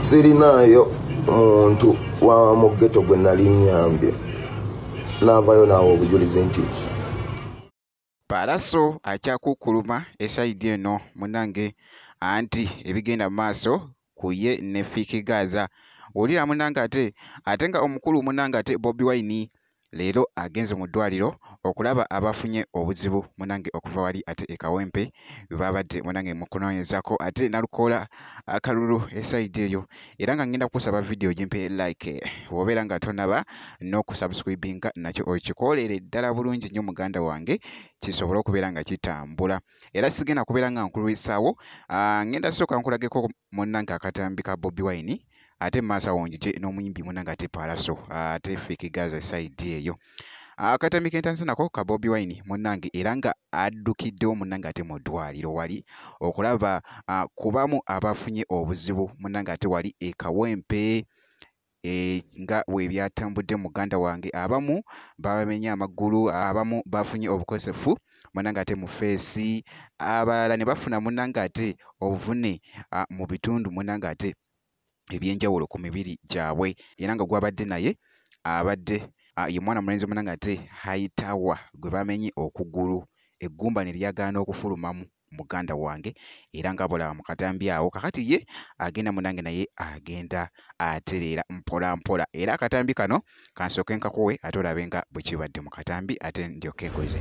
sirinaayo muntu wa mu geto gwe nali nyambye naavayo naawe obujulizi nti palaso akyakukkuluma esayidi eno munange anti ebigenda mu maaso ku ye ne Fiki Gaza wulira munange ate ate nga omukulu munange ate Bobi Wine leero agenze mu ddwaliro okulaba abafunye obuzibu munange okuva wali ate e Kawempe babadde munange mu kunoonyezako ate nalukoola akalulu esayidi eyo era nga ngenda kusaba vidiyo gimpe like wobeera nga tonaba n'okusubscribinga nakyo okikoolere ddala bulungi nnyo muganda wange kisobole okubeera nga kitambula era sigenda kubeera nga nkulwisaawo ah, ngenda sooka nkulageko munnange akatambi ka bobi wine ate maaso awo njije n'omuyimbi munnange ate paalaso ah, ate fiki gaza esaidi eyo ah, akatambi kentandise nako ka bobi wine munnange era nga addukiddewo munnange ate mu ddwaliro wali okulaba kubamu abafunye obuzibu munnange ate wali ekawempe eh, nga bwe byatambudde muganda wange abamu babamenye amaggulu abamu bafunye obukosefu munanga ate mu feesi abalala ne bafuna munanga ate obuvune ah, mu bitundu munanga ate ebyenjawulo ku mibiri gyabwe era nga gwabadde naye abadde ah, ye mwana mulenzi munanga ate haitawa gwe bamenye okugulu eggumba ne lyagaana okufulumamu muganda wange era nga bolaba mu katambi awo kakati ye agenda munange naye agenda atereera mpola mpola era akatambi kano kansooke nkakuwe ate olabe nga bwe kibadde mu katambi ate ndyoke nkoze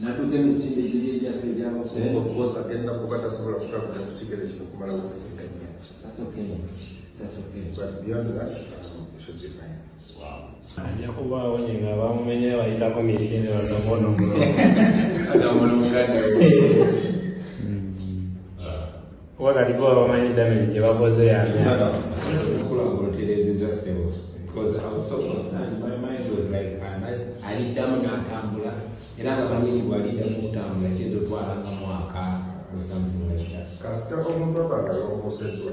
natuka emisinde giri egyaffe egyabakukosa genda kuba tasobola kutabuza kukigere kino kumala wokusinganya ajakuba awonye nga bamumenye bayitako misinde batakono kuba kati bo bamanyi damage gye bakoze yaliddamu n'atambula era nga manyi nti bwaliddamu okutambula kiyinza otwala nga mwaka osamulaira kasita omumabagala omuseddwa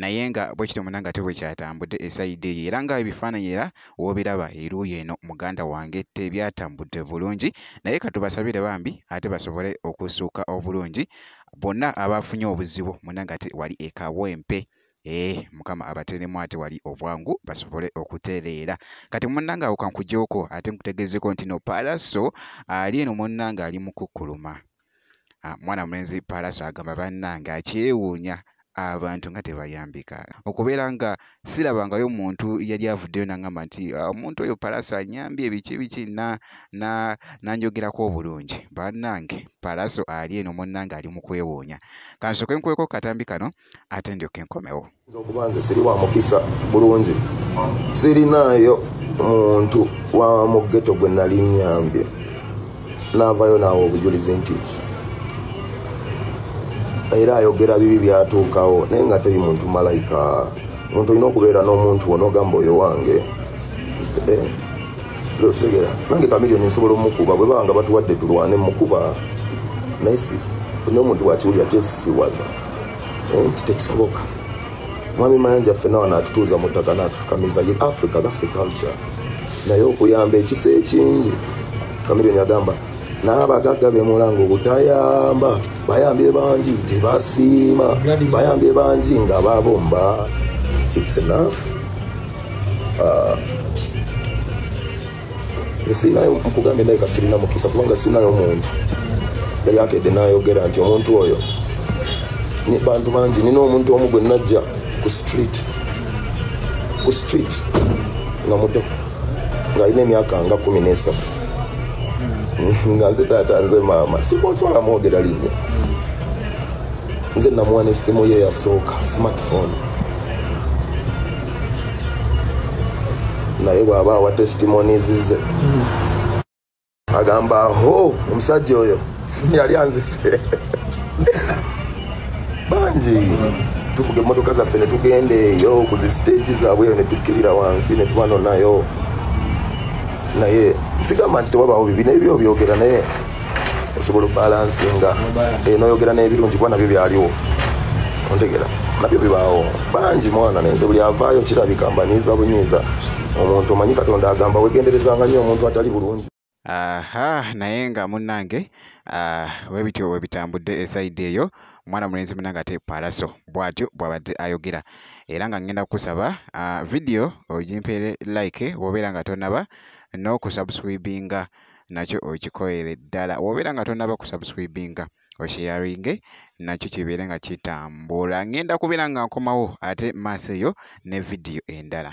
naye nga bwekityo muna nga tebwekyatambudde esaidi eyo era nga ebifaananyi era wobiraba eruuyi eno muganda wange tebyatambudde bulungi naye katubasabire bambi ate basobole okusuuka obulungi bonna abaafunye obuzibu muna nga te wali ekawempe ee eh, mukama abateremu ate wali obwangu basobole okutereera kati munnanga awo kankujoko ate nkutegeezeko nti no paalaso ali eno munnanga ali mukukkuluma Ah, mwana mulenzi paalaso agamba bannange akyewuunya abantu nga tebayambika okubeera nga sirabangayo muntu yali avuddeyo nangamba nti ah, omuntu oyo palaso anyambye ebiki biki nanjogerako obulungi banange palaso ali eno munange ali mu kwewuunya kansooke nkuweko katambi kano ate ndyoke nkomewo nze okuba nze siri wa mukisa bulungi sirinaayo muntu wa mugeto gwe nali nyambye naavayo naawe obujulizi nti era ayogera bibi byatuukawo naye nga teri muntu malayika muntu olina okubeera n'omuntu wona ogamba oyo wange eh, losegera nange kamilioni nsobola omukuba bwe banga batuwadde tulwane mukuba naye nomuntu wakiwulira kyesiwaza nti tekisoboka mwami mayanja ffena wano atutuuza mu ttaka n'atufukamiza ye africa thats the culture naye okuyamba ekisa ekingi kamilioni agamba n'abagagga bemulanga obutayamba bayambye bangi tebasiima bayambye bangi nga babomba its enough uh, nze sirinayo nkugambye ndabika sirina mukisa kubanga sirinayo muntu yali akedde nayogera nti omuntu oyo bantu bangi nina omuntu omu gwe najja ku street ku street nga muto ng'alina emyaka nga kumi n'esatu hmm, nga nze taata nze maama sibosobola mwogera linnya nze namuwa n'essimu ye yasooka smartphone naye bwaba awa testimonies ze agamba ho omusajja oyo yali anzise bangi tuvuga emotoka zaffe netugenda eyo kuzi stage zabwe eyo netukkirira wansi netubanonayo naye sigamba nti tewabawo bibi naye byobyogera naye osobola obalansinga eh, noyogera n'ebirungi kuba nabyo byaliwo ontegera nabyo bibaawo bangi mwana nenze buli avaayo kirabika mbanyiiza bunyiiza omuntu omanyi katonda agamba wegenderezanga nnyo omuntu atali bulungi aha naye nga munnange ah, webityo webitambudde esaidi eyo omwana mulenzi munange ate palaso bwatyo bwabadde ayogera era nga ngenda kukusaba ah, vidiyo ogimpeere like wobeera nga tonaba n'okusubscribinga no nakyo okikoyere ddala wobeera nga tonaba kusubscribinga osheyaringe nakyo kibeere nga kitambula ngenda kubeera nga nkomawo ate maaso eyo ne vidiyo endala